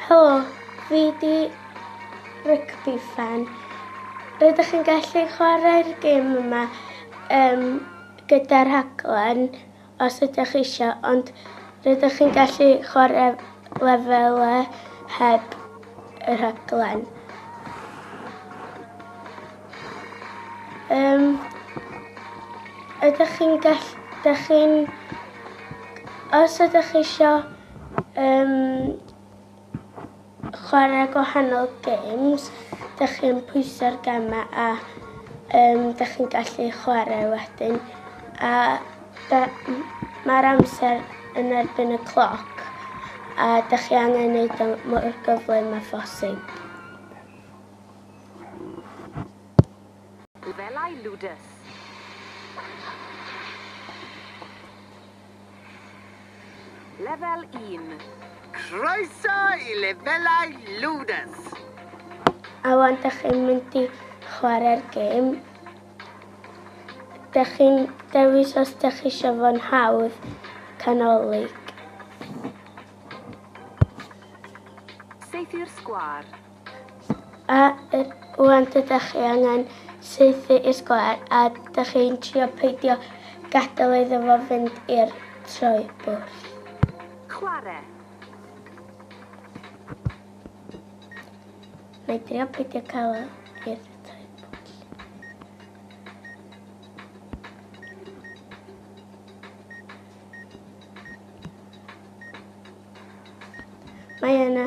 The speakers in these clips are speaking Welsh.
Helo, fi di rygbi fan. Rydych chi'n gallu chwarae'r gêm yma um, gyda rhaglen os ydych chi eisiau, ond rydych chi'n gallu chwarae lefelau heb y rhaglen. Um, ydych chi'n gallu... Ydych chi'n... Os ydych chi eisiau Yn chwarae gwahanol games, dych chi'n pwyso'r gemau a um, dych chi'n gallu chwarae wedyn. A mae'r amser yn erbyn y cloc a dych chi angen gwneud o mor gyflym a phosib. Lefelau Ludus. Lefel 1. Croeso i lefelau Ludus! A wan dych chi'n mynd i chwarae'r gêm. Dych chi'n dewis os dych chi eisiau fo'n hawdd, canolig. Saethu'r sgwâr. A rŵan dydych chi angen saethu i'r sgwâr a dych chi'n trio peidio gadael iddo fo fynd i'r troi bwrdd. Chware. Mae drio peidio cael o i'r troi bwrdd. Mae yna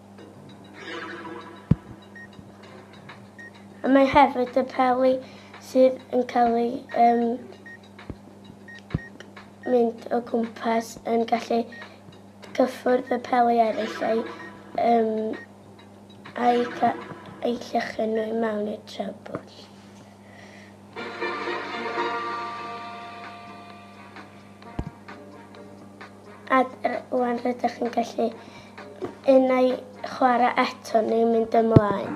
A mae hefyd y peli sydd yn cael ei um, mynd o gwmpas yn gallu cyffwrdd y peli eraill a'i, um, a'i, a'i llechen nhw i mewn i'r trefbwll. A rwan rydych chi'n gallu un o'i chwarae eto neu mynd ymlaen.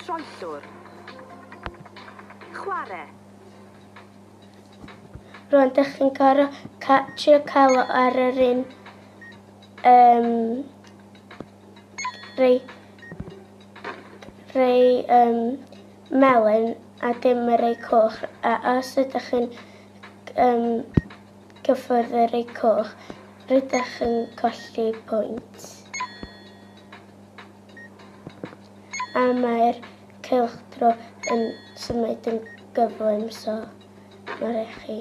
Troellwr. Chwarae. Rwan, dych chi'n gorau ca trio cael o ar yr un... Um, rei... Rei... Um, melyn a dim y rei coch. A os ydych chi'n um, gyffwrdd y rei coch, rydych yn colli pwynt. A mae'r cylchdro yn symud yn gyflym so mae rhaid chi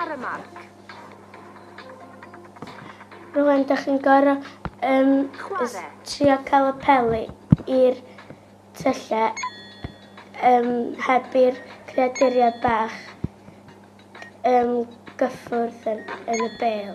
Ar y marc. Rwy'n dych chi'n gorau um, trio cael y peli i'r tyllau um, heb i'r creaduriad bach um, gyffwrdd yn, yn y bel.